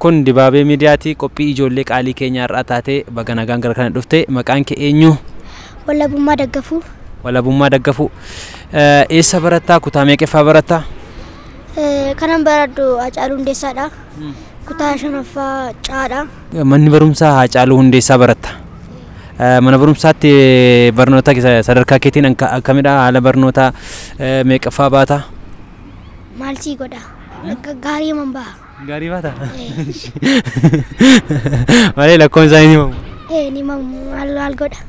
Kun dibaabee miidiyaati qophii ijoollee qaalii keenya har'aa taatee baga nagaan gara kana dhufte maqaan kee eenyu Wallabummaa daggafuu walabummaa daggafuu Eh, eessa barattaa kutaa meeqeffaa barattaa Eh, kanan baradhu Hacaaluu Hundeessaadha. Kutaa shanaffaa Caadha. Manni barumsaa Haacaaluu Hundeessaa baratta. Mana barumsaatti barnoota sadarkaa keetiin akkamidha? Haala barnootaa meeqaffaa baata? Maal sii godha? Gaarii man baha. Gaarii baata? Malee lakkoon isaa hin himamu. Ee ni mamu maal maal godha?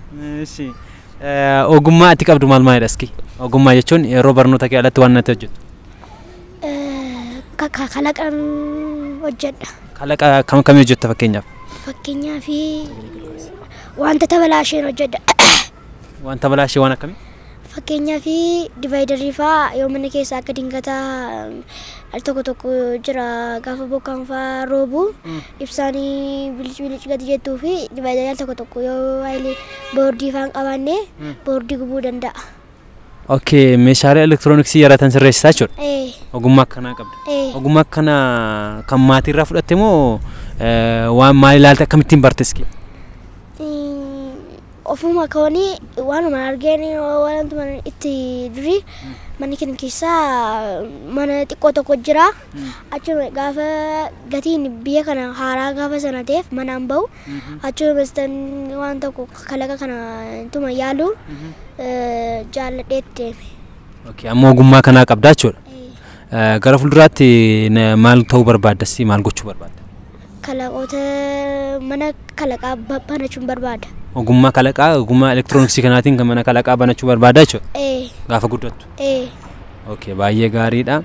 Ogummaa ati qabdu maal maalidha iski? Ogummaa jechuun yeroo barnoota kee alatti waan natti hojjettu. Kalaqan hojjedha. Kalaqa kam akkamii hojjetta fakkeenyaaf? Fakkeenyaaf wanta tabalaasheen hojjedha. Wanta balaashee waan akkamii? Fakkeenyaaf divaayidarii fa'aa yoo mana keessaa akka dingataa al tokko tokko jira gaafa bokkaan fa'aa roobu ibsaan bilic bilic gadi jettuu fi divaayidarii al tokko tokko yoo haayilee boordii fa'aa hin qabaanne boordii gubuu danda'a. Okay, meeshaalee elektirooniksii yaratan sirreessitaa jechuudha. Ee. Ogummaa akkanaa qabda. Ee. Ogummaa akkanaa kan maatii irraa fudhatte moo eh, waan maal ilaalte akkamittiin bartes kee? Mm, ofuma koonii waanuma argeen waantuma itti durii manni keenya keessaa mana xiqqoo tokko jira achuma gaafa gatiin biyya kana haaraa gaafa sana ta'eef manaan bahu Achuma bastan waan tokko kalaqa kana tuma yaalu jaalladheet deeme. Okay, amma ogummaa kanaa qabdaa jechuudha. Eh, Gara fuulduraatti na- maal ta'uu barbaaddas maal gochuu barbaadda? Kalaqoota mana kalaqaa ba- banachuun barbaada. Ogummaa kalaqaa ogummaa elektirooniksii kanaatiin kan mana kalaqaa banachuu barbaaddaa jechuudha. Ee, Gaafa guddattu. ee. Okay, baay'ee gaariidha.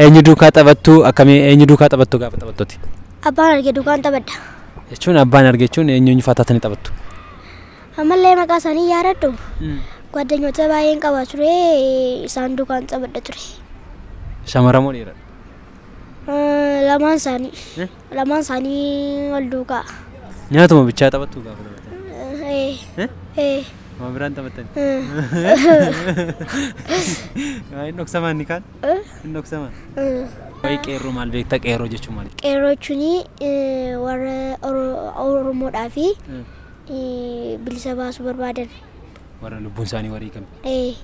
Eenyu duukaa taphattu akkamii eenyu duukaa taphattu gaafa taphattuti? Abbaan arge duukaan taphadha. Jechuun abbaan arge jechuun eenyu eenyu fa'aa taatanii taphattu? Ammallee maqaa isaanii yaadadhu. ጓደኞቼ baay'een qaba ture isaan duukaan taphadha ture. Shamara moo dhiira? Eh, Lamaan isaanii. Lamaan isaanii wal duukaa. Nyaatuma bichaa taphattuu gaafa dabartan. Ee. Ee. Waan biraan taphattan. Hin dhoksamaan ni kaan? Hin dhoksamaan. Waa'ee qeerroo maal beekta qeerroo jechuun maali? Qeerroo jechuun warra Oromoodhaa fi bilisa baasuu barbaadan. Warra lubbuun isaanii wareegame. Ee.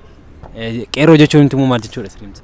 Qeerroo jechuun immoo maal jechuudha sirriimsa?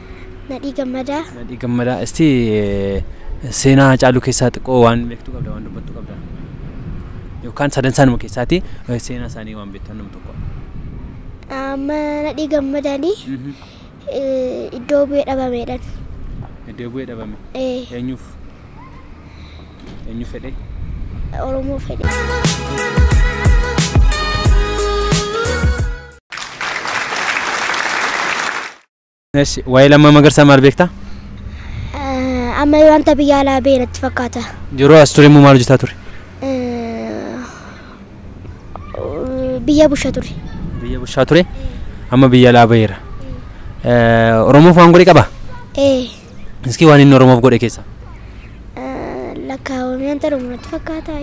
Nadhii Gammadaa. Nadhii Gammadaa. Isti seenaa Hacaaluu keessaa xiqqoo waan beektu qabda waan dubbattu qabda. Yookaan sadan isaanuma keessaati seenaa isaanii waan beektu nama tokko. Amma nadhii Gammadaanii iddoo bu'ee dhabameedhaan. Iddoo bu'ee dhabame. Eenyuuf? Eenyu fedhee? Oromoo fedhee. Eshi, waa'ee lammaa magarsaa maal beektaa? Eh, Amma wanta biyya alaa ba'e natti fakkaata. Yeroo as ture immoo maal hojjetaa ture? Eh, Biyya busha ture. Biyya bushaa ture, amma biyya alaa ba'eera. Eh, Oromoof waan godhe qaba? Eh, Iskii waan inni Oromoof godhe keessaa? eh, lakkaawamee wanta dhumu natti fakkaata.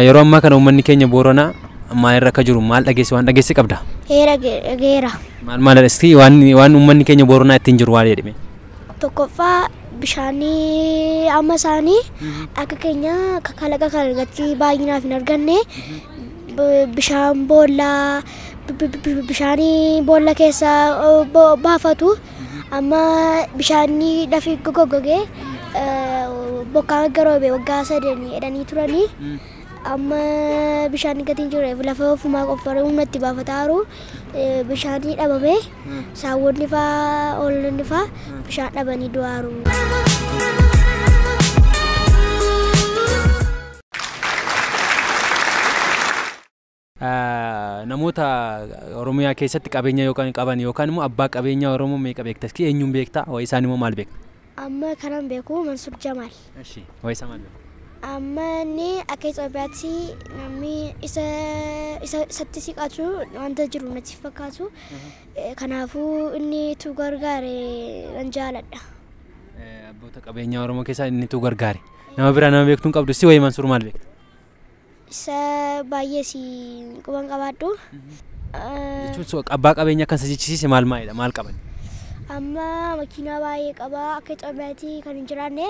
Yeroo ammaa kana uummanni keenya Booranaa maalirra akka jiru maal dhageesse waan dhageesse qabda? Heera geera. Maal maal dhageesse waan waan uummanni keenya Booranaa ittiin jiru waan jedhame? Tokkoffaa bishaanii amma isaanii akka keenya akka kalaqa kalaqatti baay'inaaf hin arganne b- bishaan boollaa b- b- b- bishaanii boolla keessa o- bo- baafatu Amma bishaanni lafi goggogee bokkaan akka roobe waggaa sadanii jedhanii turanii amma bishaanni gadi hin jirreef lafa ofumaa qoffaree humna itti baafataaru bishaanii dhabame saawwonni faa hoolonni faa bishaan dhabanii du'aaru. Namoota Oromiyaa keessatti qabeenya yookaan qaban yookaan immoo abbaa qabeenyaa Oromoo meeqa beekta? Iskii eenyuun beekta? Waa'ee isaanii immoo maal beekta? Amma kanan beeku Mansuur Jamaal. Eshi. Waa'ee isaa maal beekta? Amma inni akka Itoophiyaatti namni isa isa isatti siqatu wanta jiru natti hin fakkaatu. Eh, Kanaafuu inni tu gargaare nan jaaladha. Eh, Abboota qabeenyaa Oromoo keessaa inni tu gargaare. Nama biraa nama beektu hin qabdu. Iskii waa'ee Mansuur maal beekta? Isa baay'ee si quban qabaadhu. Jechuun so- abbaa qabeenya akkan isa jechisiise maal maalidha maal qaban? Amma makiinaa baay'ee qaba akka Itoophiyaatti kan hin jiraanne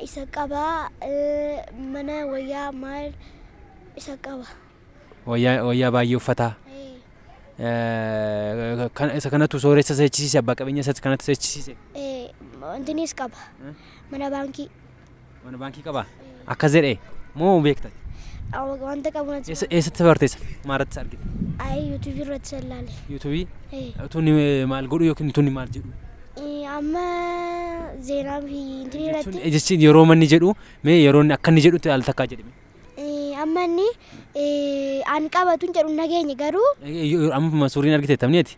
isa qaba eh, mana wayyaa maal isa qaba. Wayyaa wayyaa baay'ee uffataa. Eh, Eh, kan- Isa kanatu sooressa isa jechisiise abbaa qabeenya isa kanatti isa jechisiise. eh, Wantinis qaba mana baankii. Mana baankii qabaa? Akka zedhee moo beekta? Awa- Wanta qabu natti Eessa- Eessatti barteessa? Maaratti argite? Ayi yuutuubii irratti sallaale. Yuutuubii? Eh, Tuni eh, maal godhu yookiin tuni maal jedhu? eh, Amma zeenaa fi intinii Jechuun irratti eh, jechi yeroo manni jedhu mee yeroo inni akka inni jedhutti al takkaa jedhime. eh, amma inni eh, an qabatun jedhu hin dhageenye garuu Eh, yoo- Amma suuriin argite tamneeti?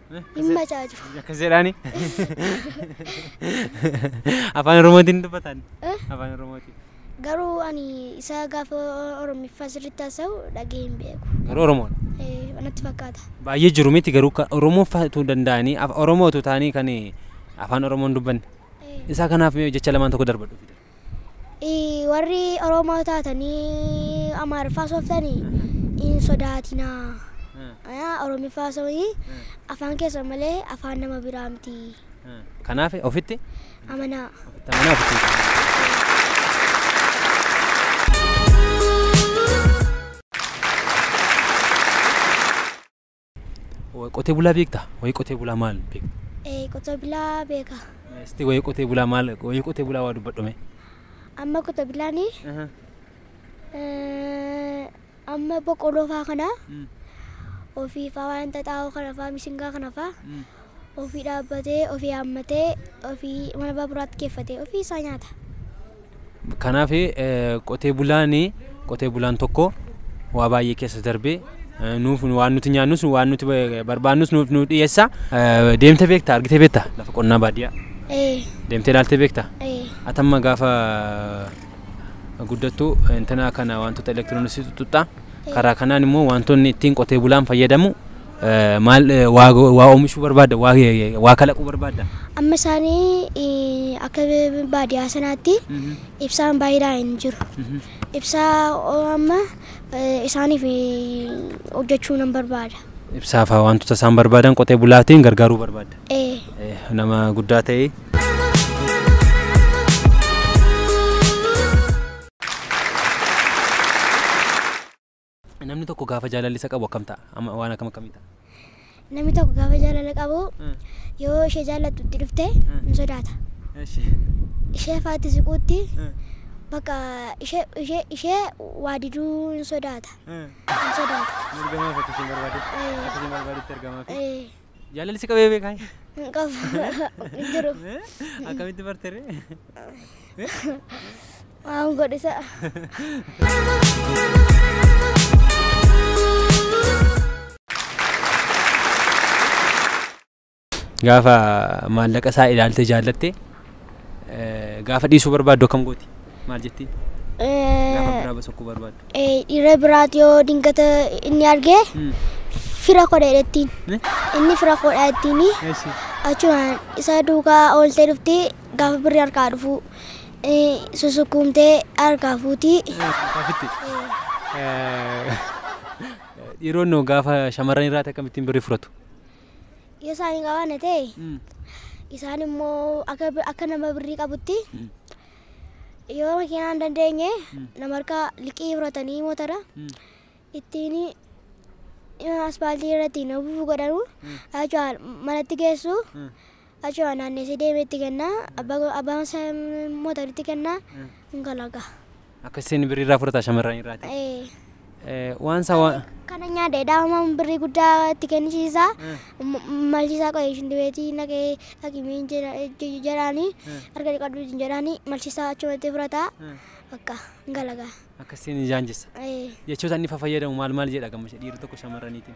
Hin bajaaju. Akkas jedhaani. Afaan Oromootiin dubbatan. Eh? Afaan Oromootiin. Garuu ani isaa gaafa Oromiffaa sirriitti haasa'u dhagee hin beeku. Garuu Oromoodha. Eh, Natti fakkaata. Baay'ee jiru miti garuu ka Oromoo fa'atu danda'anii af- Oromootu ta'anii kan afaan Oromoon dubbanne. Eh, Isaa kanaaf mee jecha lamaan tokko darbadhu fide. Warri Oromoo taatanii Amaariffaa haasoftanii hin sodaatinaa. Oromiffaa haasawii afaan keessan malee afaan nama biraa miti. Kanaaf ofitti Amanaa. ofitti amanaa ofitti hin qabatin. Qotee bulaa beektaa? Wayii qotee bulaa maal beekta? Ee, qotee bulaa beeka. Sitti wayii qotee bulaa maal wayii qotee bulaa waa dubbadhume. Amma qotee bulaan amma boqqolloo faa kana ofiifaa waan xaxaa'oo kana faa misingaa kana faa Ofii dhaabbatee, ofii haammatee, ofii mana baaburaatti geeffatee ofii isaa nyaata. Kanaaf qotee bulaan qotee bulaan tokko waa baay'ee keessa darbee nuuf waan nuti nyaannus waan nuti barbaannus nuuf nuuf dhiyeessa. Deemtee beektaa argitee beektaa lafa qonnaa baadiyyaa Ee, deemtee ilaaltee beektaa? ee, Atamma gaafa guddattu intanaa kana wantoota elektirooniksii tuttuqxaa. Karaa kanaan immoo wantoonni ittiin qotee bulaan fayyadamu Maal waa oomishuu barbaadda? Waa kalaquu barbaadda? Amma isaanii akka baadiyyaa sanaatti ibsaan baay'inaan hin jiru. Ibsaa amma isaaniif hojjechuu nan barbaada. Ibsaa fa'aa wantoota isaan barbaadan qotee bulaatiin gargaaruu barbaadda? Nama guddaa ta'ee. Namni tokko gaafa jaalalli isa qabu akkam ta'a? Amma waan akkam akkamii ta'a? Namni tokko gaafa jaalala qabu yoo ishee jaallattu itti dhufte hin sodaata. Ishee faatti siquutti bakka ishee ishee ishee waa diduu hin sodaata. Hin sodaata. Ergamaa fakkii isheen barbaade. Akka isheen barbaadetti ergamaa fi. Eh, Jaalalli si qabee beekaa? Hin qabu. Hin jiru. Akkamitti barte ree? Waan godhisa. Gaafa maallaqa isaa ilaaltee jaallatte Gaafa dhiisuu barbaaddu akkam gooti? Maal jettiin? Gaafa biraa basakkuu barbaaddu. Dhiira biraati yoo dingata inni arge fira kodha jettiin. Inni fira kodha jettiin achumaan isa duukaa ooltee dhufti gaafa birri harkaa dhufu susukkuumtee harkaa fuuti. Dhiironni gaafa shamarran irraati akkamittiin birri furatu? Yoo isaan hin qabaanne ta'e isaan immoo akka, akka nama birrii qabutti yoo makiinaa hin dandeenye nama harkaa liqii fudhatanii motora ittiin aspaaltii irratti hin ofuuf godhanu jechuudha manatti geessu Achuma naanneessee deemee itti kenna. Abbaa abbaan isaa immoo taritti kenna. Hin kalaqa. Akka isin birrii irraa fudhata shamarran irraati. Ee. Eh, Waan isaa waan... Kana nyaadhe daa'ima birrii guddaa itti kennisiisa. Malchiisaa qo'ee ishin dibeetii naqee dhaqimii jedhaani. Harka dhiqadhu isin jedhaani malchiisaa achumatti fudhata. Bakka hin kalaqa. Akka isin jaanjessa. Ee. Jechoota inni fayyadamu maal maal jedha gammachuu dhiirri tokko shamarraniitiin.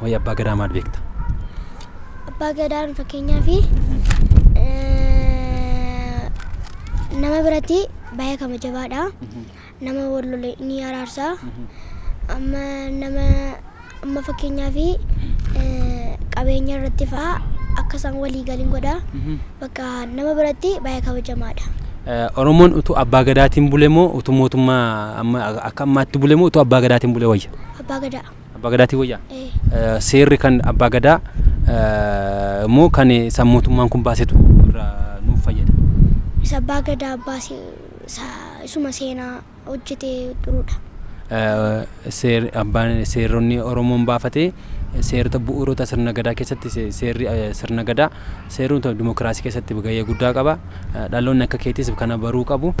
Waa'ee abbaa gadaa maal beekta? Abbaa gadaan fakkeenyaaf nama biratti baay'ee kabajabaadha. Nama wal lole ni araarsa. Amma nama amma fakkeenyaaf qabeenya irratti fa'a akka isaan walii galin godha. Bakka nama biratti baay'ee kabajamaadha. Eh, Oromoon utuu abbaa gadaatiin bule moo utuu mootummaa amma akka ammaatti bule moo utuu abbaa gadaatiin bule wayya? Abbaa gadaa. Abbaa Gadaatiin wayyaa? Ee. Seerri kan Abbaa Gadaa moo kan isaan mootummaan kun baasetu irraa nuuf fayyada? Isa Abbaa Gadaa baase isuma seenaa hojjetee turudha. Seeronni Oromoon baafate seerota bu'uurota sirna gadaa keessatti seerri sirna gadaa seerota dimokiraasii keessatti gahee guddaa qaba. Dhaloonni akka keetis kana baruu qabu.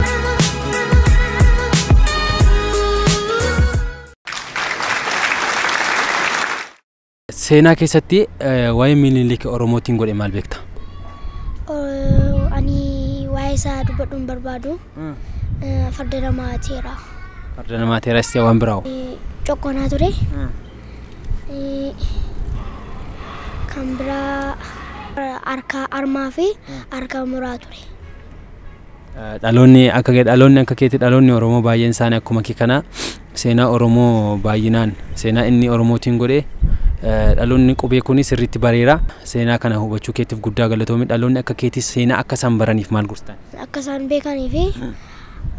Seenaa keessatti waa'ee Minilik Oromootiin godhe maal beekta? Ani waa'ee isaa dubbadhu hin barbaadu. Farda namaa teera. Farda namaa teera istee waan biraa hoo? Coqqoonaa ture. Kan biraa harka harmaa fi harka muraa ture. Dhaloonni akka kee dhaloonni akka keeti dhaloonni Oromoo baay'een isaanii akkuma kee kana seenaa Oromoo baay'inaan seenaa inni Oromootiin godhe dhaloonni qubee kunis sirriitti bareera seenaa kana hubachuu keetiif guddaa galatoomi dhaloonni akka keetis seenaa akka isaan baraniif maal gorsita? akka isaan beekanii fi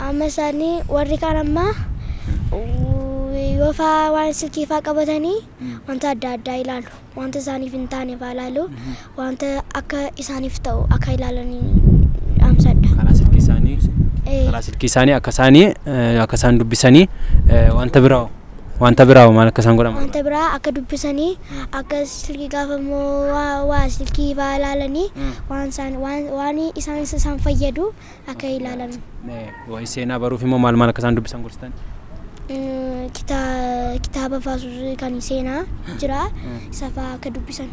amma isaanii warri kaan ammaa yoo faa waan silkii faa qabatanii wanta adda addaa ilaalu. wanta isaaniif hin taaneef haa ilaalu wanta akka isaaniif ta'u akka ilaalanii dhaamsadha. karaa silkii isaanii Eh, karaa silkii isaanii akka isaanii eh, akka isaan dubbisanii eh, wanta biraa hoo? wanta biraa hoo maal akka isaan godhan wanta biraa akka dubbisanii akka silkii gaafa immoo waa waa silkii faa ilaalanii waan isaan waan waan isaan isaan fayyadu akka ilaalan. Waa'ee seenaa baruuf immoo maal maal akka isaan dubbisan gorsitan? Mm, kita- Kitaaba faasuus kan seenaa jira isa fa'aa akka dubbisan.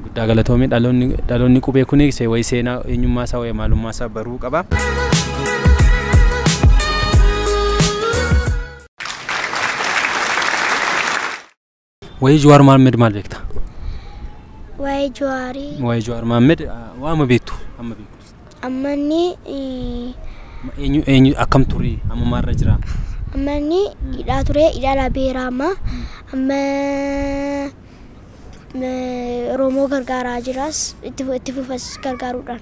Guddaa galatoomii dhaloonni dhaloonni qubee kun se- waa'ee seenaa eenyummaa isaa waa'ee maalummaa isaa baruu qaba. Wayii Jawaar Maammed maal beekta? Waa'ee Jawaarii Wayii Jawaar Maammed waama beektu amma beektu. ammanni eh, Ma- Eenyu eenyu akkam ture amma maalirra jira? ammanni hidhaa ture hidhaa beeraa amma amma eh, Oromoo gargaaraa jiras itti fu- itti fufas gargaaruudhaan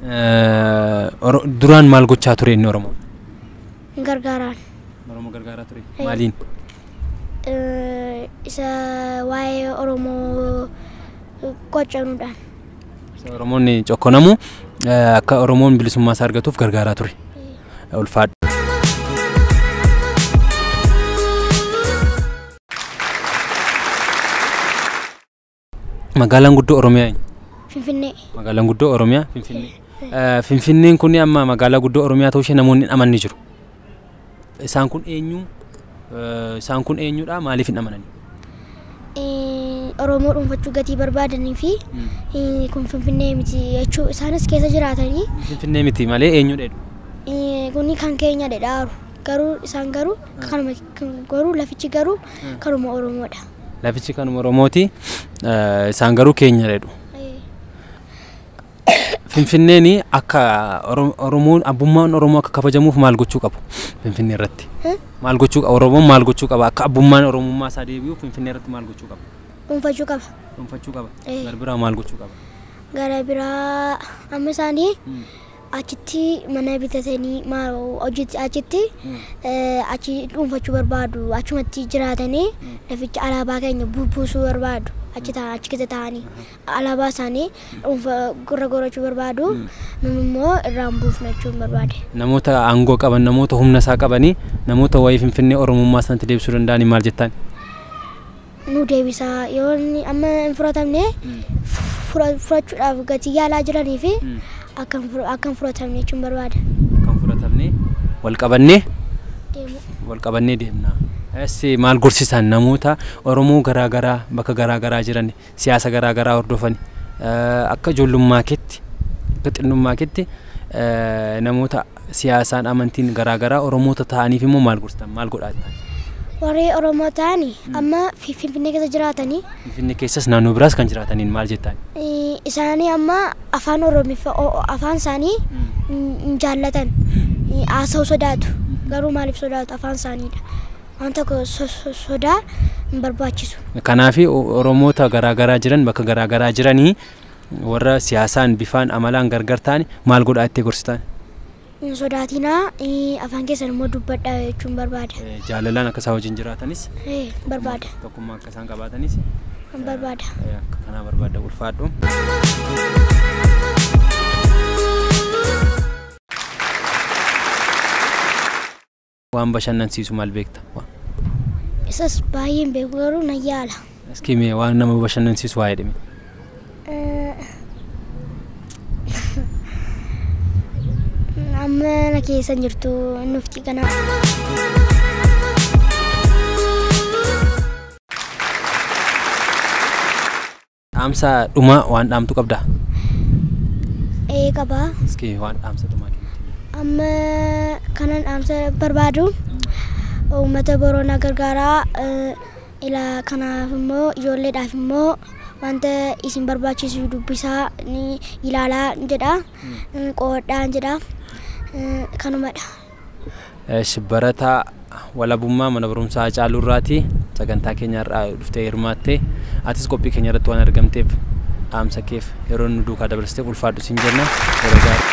Eh, Oro- Duraan maal gochaa ture inni Oromoo? hin gargaaraan. Oromoo gargaaraa ture. Ee. Maaliin? Eh, Isa waa'ee Oromoo qocanuudhaan. Isa Oromoonni cokkonamu eh, akka Oromoon bilisummaa isaa argatuuf gargaaraa ture. Ulfaadha. Magaalaan guddoo Oromiyaa eenyu? Finfinnee. Magaalaan guddoo Oromiyaa Finfinnee. Eh, Finfinneen kun amma magaalaa guddoo Oromiyaa ta'uu ishee namoonni hin amanne jiru. Isaan kun eenyu? Eh, Isaan kun eenyudha? Maaliif hin amanani? Eh, Oromoo dhuunfachuu gatii barbaadanii fi eh, kun Finfinnee miti jechuu isaanis keessa jiraatanii Finfinnee miti malee eenyudha jedhu. eh, kuni kan keenya dhedhaaru garuu isaan garuu kanuma garuu lafichi garuu kanuma Oromoodha. Lafichi kanuma Oromooti. Isaan garuu keenya jedhu. Finfinneen akka Oromoon abbummaan Oromoo akka kabajamuuf maal gochuu qabu Finfinnee irratti? Maal gochuu qaba Oromoon maal gochuu qaba akka abbummaan Oromummaa isaa deebi'uuf Finfinnee irratti maal gochuu qaba? Dhuunfachuu qaba. Dhuunfachuu qaba. Gara biraa maal gochuu qaba? Gara biraa amma isaanii achitti mana bitatanii maal hojjeti achitti eh, achi dhuunfachuu barbaadu achumatti jiraatanii laficha alaabaa keenya bu- buusuu barbaadu achi taa'an achi keessa taa'anii alaabaa isaanii dhuunfa gurra gorachuu barbaadu nun immoo irraan buufna jechuun barbaade. Namoota aangoo qaban, namoota humna isaa qabanii, namoota waa'ee Finfinnee Oromummaa sanatti deebisuu danda'anii maal jettaan? nuu deebisaa yoo inni amma hin furatamne fura- furachuudhaaf gatii yaalaa jiranii fi akka hin fur- akka hin furatamne jechuun barbaada Kan fudhatamne wal qabannee deemuu. wal qabannee deemna. As maal gorsisan namoota Oromoo garaa garaa bakka garaa garaa jiran siyaasa garaa garaa hordofan eh, akka ijoollummaa keetti akka xinnummaa keetti eh, namoota siyaasaan, amantiin garaa garaa Oromoota ta'aniif immoo maal gorsitan? Maal godhaa jettaan? Warri Oromoo ta'an amma Fi- Finfinnee keessa jiraatanii Finfinnee keessas naannoo biraas kan jiraataniin maal jettaan? eh, isaanii amma afaan Oromiffa o- o- afaan isaanii hin hin jaallatan Eh, haasa'uu sodaatu garuu maaliif sodaatu afaan isaaniidha waan tokko so- so- sodaa hin barbaachisu Kanaaf Oromoota garaa garaa jiran bakka garaa garaa jiranii Warra siyaasaan, bifaan, amalaan gargar taane maal godhaa jettee gorsitaan? Hin sodaatinaa, afaan keessan immoo dubbadhaa jechuun barbaada. Jaalalaan akka isaa wajjin jiraatanis barbaada. Tokkummaa akka isaan qabaatanis barbaada. Akka kanaa barbaada ulfaadhu. Waan bashannansiisu maal beekta? Isas baay'een beeku garuu nan yaala. Iskii mee waan nama bashannansiisu waa jedhime. Amma na keessa hin jirtu nufti kana. Dhaamsa dhumaa waan dhaamtu qabdaa? ee qabaa Iski waan dhaamsa dhumaa kennitu. amma kanan dhaamsa barbaadu uummata boroonaa gargaaraa eh, ilaa kanaaf immoo ijoolleedhaaf immoo wanta isin barbaachisu dubbisaa ni ilaalaa jedha eh, qo'adhaa jedha eh, kanumadha Esh barataa walabummaa mana barumsaa Hacaaluu irraati sagantaa keenya har'aa dhuftee hirmaatte atis qophii keenya irratti waan argamteef dhaamsa keef yeroo nu duukaa dabarsiteef ulfaadhu siin jenna yeroo gaarii.